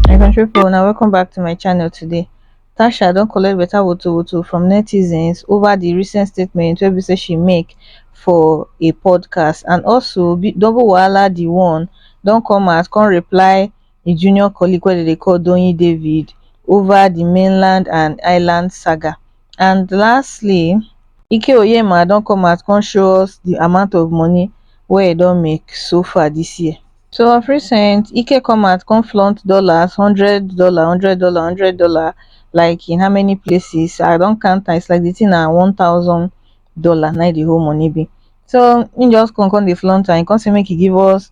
my country people now welcome back to my channel today tasha don't collect better woto woto from netizens over the recent statement where be say she make for a podcast and also double wahala the one don't come out come reply a junior colleague wey they call donny david over the mainland and island saga And lastly, Ike Oyema don come out come show us the amount of money wey e don make so far this year. So of recent, Ike come out come flaunt dollars, hundred dollar, hundred dollar, hundred dollar, like in how many places? I don count am, it's like the thing na one thousand dollar na the whole money be. So he just come come dey flaunt am, he come say make he give us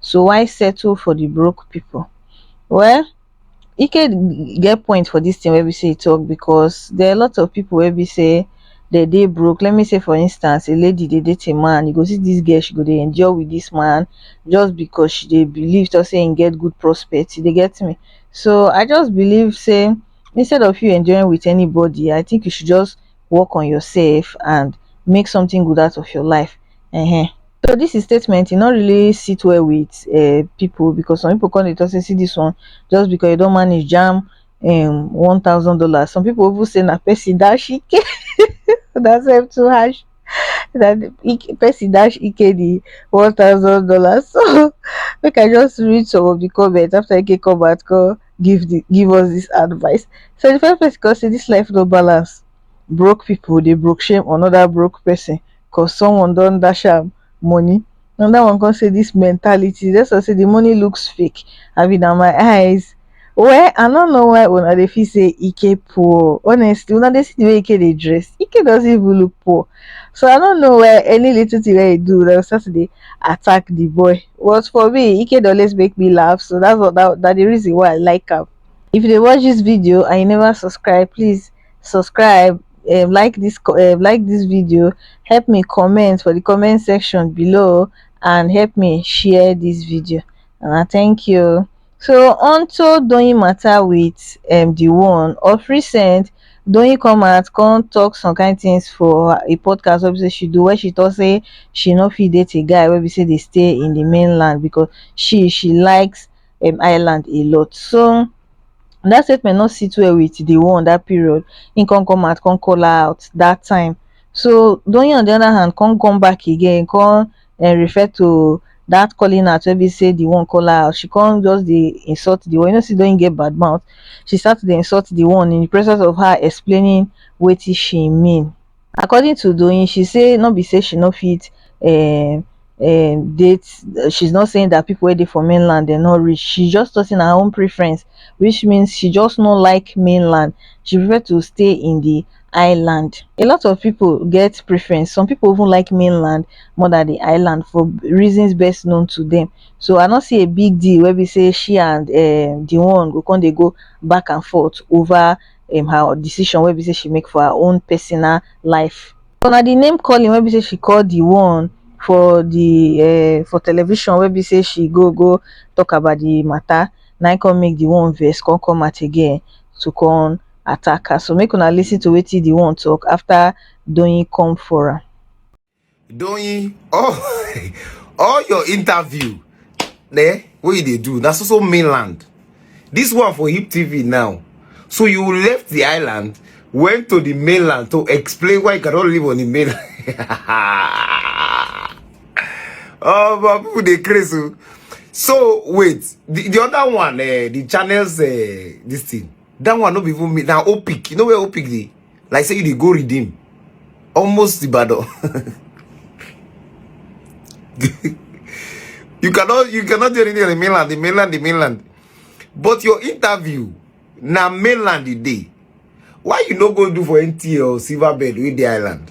so why settle for the broke people? Well, Ike get point for this thing where we say e talk because there are a lot of people where we say they dey broke. Let me say for instance, a lady they date a man, you go see this girl, she go dey endure with this man just because she dey believe to say and get good prospects. They get me. So I just believe say instead of you enjoying with anybody, I think you should just work on yourself and make something good out of your life um so this his statement e no really sit well with um people because some people come dey talk say see this one just because you don manage jam um one thousand dollars some people even say na person dash ike that's help too harsh that Ike- person dash ike the one thousand dollars so make i just read some of the comments after ike come out come give the give us this advice say the first place cause say this life no balance broke people dey broke shame another broke person cause someone don dash am money another one come say this mentality that's why say the money looks fake i mean na my eyes well i don't know why una dey feel say ike poor honestly una dey see the way ike dey dress ike doesn't even look poor So I don't know where any little thing that he do, they will start to dey attack the boy. But for me, Ike dey always make me laugh, so that's what that, that the reason why I like him. If you dey watch this video and you never subscribe, please subscribe, um, like this, co- um, like this video, help me comment for the comment section below, and help me share this video. And I thank you. so onto doyin mata wit um di one of recent doyin come out come tok some kain tins for a podcast wey be say she do wey she tok say she no fit date a guy wey be say dey stay in di mainland because she she likes um island a lot so dat statement no sit well wit di one dat period im come come out come call her out dat time so doyin on di oda hand come come back again come um refer to that calling out wey be say the one call her out she come just dey insult the one you know say Doyin get bad mouth she start to dey insult the one in the presence of her explaining wetin she mean according to Doyin she say no be say she no fit um um date she's not saying that people wey dey for mainland dem no reach she just talk say na her own preference which means she just no like mainland she prefer to stay in the island a lot of pipo get preference some pipo even like mainland more dan di island for reasons best known to dem so i no see a big deal wey be say she and um di one go come dey go back and forth over um her decision wey be say she make for her own personal life but na di name calling wey be say she call di one for di um for television wey be say she go go tok about di mata na im come make di one vex come come out again to come attack her so make una lis ten to wetin the one talk after doyin come for am doyin all all your interview eh, wey you dey do na so so mainland this one for hip tv now so you left the island went to the mainland to explain why you cannot live on the mainland oh but people dey craze o oh. so wait the, the other one uh, the channels uh, this thing that one no be even me na opic you know where opic dey like say you dey go redeem almost ibadan you cannot you cannot do anything on the mainland the mainland the mainland but your interview na mainland e dey why you no go do for nta or silver bed wey dey island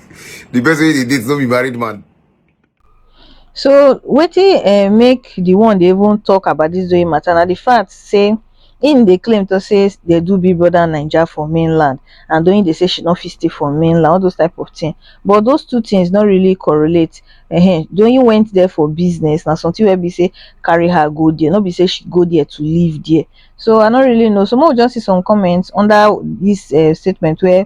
the person wey dey date no be married man. so wetin um, eh, make the one dey even talk about this doing matter na the fact say im dey claim to say they do big brother naija for mainland and doing dey say she no fit stay for mainland all those type of thing but those two things no really correlate uh-huh. doing went there for business na something wey be say carry her go there no be say she go there to live there so i no really know so make we just see some comments under this uh, statement where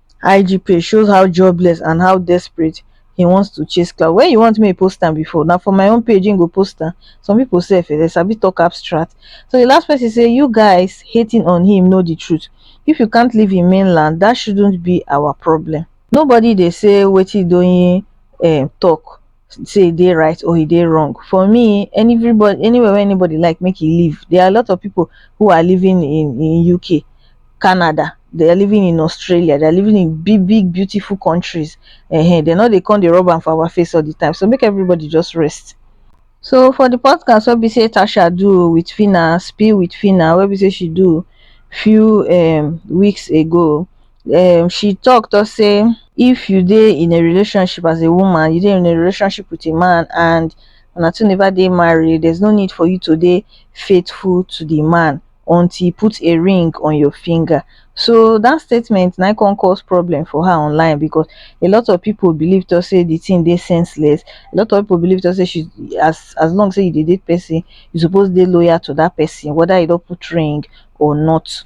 ig page shows how jobless and how desperate he wants to chase clout where you want make he post am before na for my own page he go post am some people sef um dem sabi talk abstract so the last person say you guys hating on him know the truth if you can't leave him mainland that shouldn't be our problem nobody dey say wetin doyin um talk say e dey right or e dey wrong for me anybody anywhere wey anybody like make e live there are a lot of people who are living in in UK Canada they are living in Australia they are living in big big beautiful countries um they no dey come dey rub am for our face all the time so make everybody just rest so for the podcast wey be say Tasha do with Phyna spill with Phyna wey be say she do few um weeks ago um she talk talk say if you dey in a relationship as a woman you dey in a relationship with a man and una two never dey married there's no need for you to dey faithful to the man until he put a ring on your finger so that statement na come cause problem for her online because a lot of people believe to say the thing dey senseless a lot of people believe to say she as as long say you dey date person you suppose dey loyal to that person whether you don put ring or not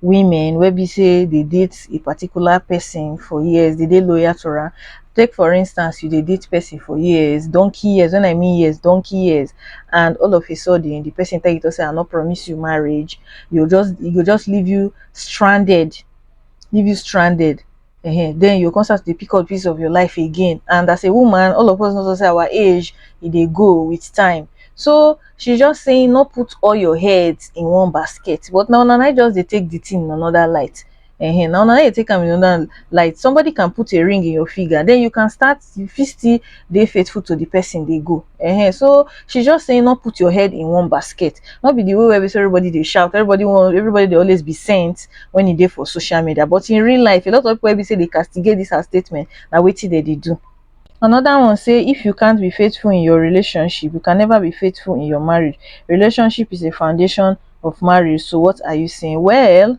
women wey be say dey date a particular person for years, dey dey loyal to am. Take for instance, you dey date person for years, donkey years, when I mean years, donkey years, and all of a sudden the person tell you to say I no promise you marriage, you just e go just leave you stranded, leave you stranded. um then you go come start to dey pick up pieces of your life again and as a woman all of us knows say our age e dey go with time so she just saying no put all your head in one basket but na una na just dey take the thing in another light um na una na dey take am in another light somebody can put a ring in your finger then you can start you fit still dey faithful to the person dey go uh-huh. so she just saying not put your head in one basket not be the way where everybody they shout everybody want everybody they always be sent when you there for social media but in real life a lot of people be say they castigate this her statement now wait till they do Another one say if you can't be faithful in your relationship, you can never be faithful in your marriage. Relationship is a foundation of marriage. So what are you saying? Well,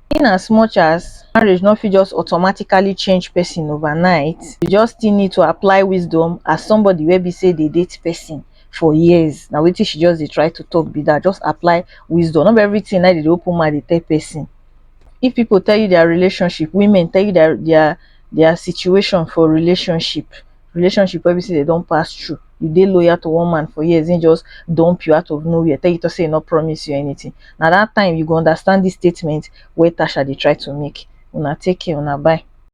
in as much as marriage no fit just automatically change person overnight, you just still need to apply wisdom as somebody wey be sey dey date person for years. Na wetin she just dey try to talk be that. Just apply wisdom. No be everything na im dey dey open mouth dey tell person. If people tell you their relationship, women tell you their their their situation for relationship relationship wey be say dem don pass through you dey loyal to one man for years him just dump you out of nowhere tell you talk say he no promise you anything na that time you go understand this statement wey Tasha dey try to make una take care una bye.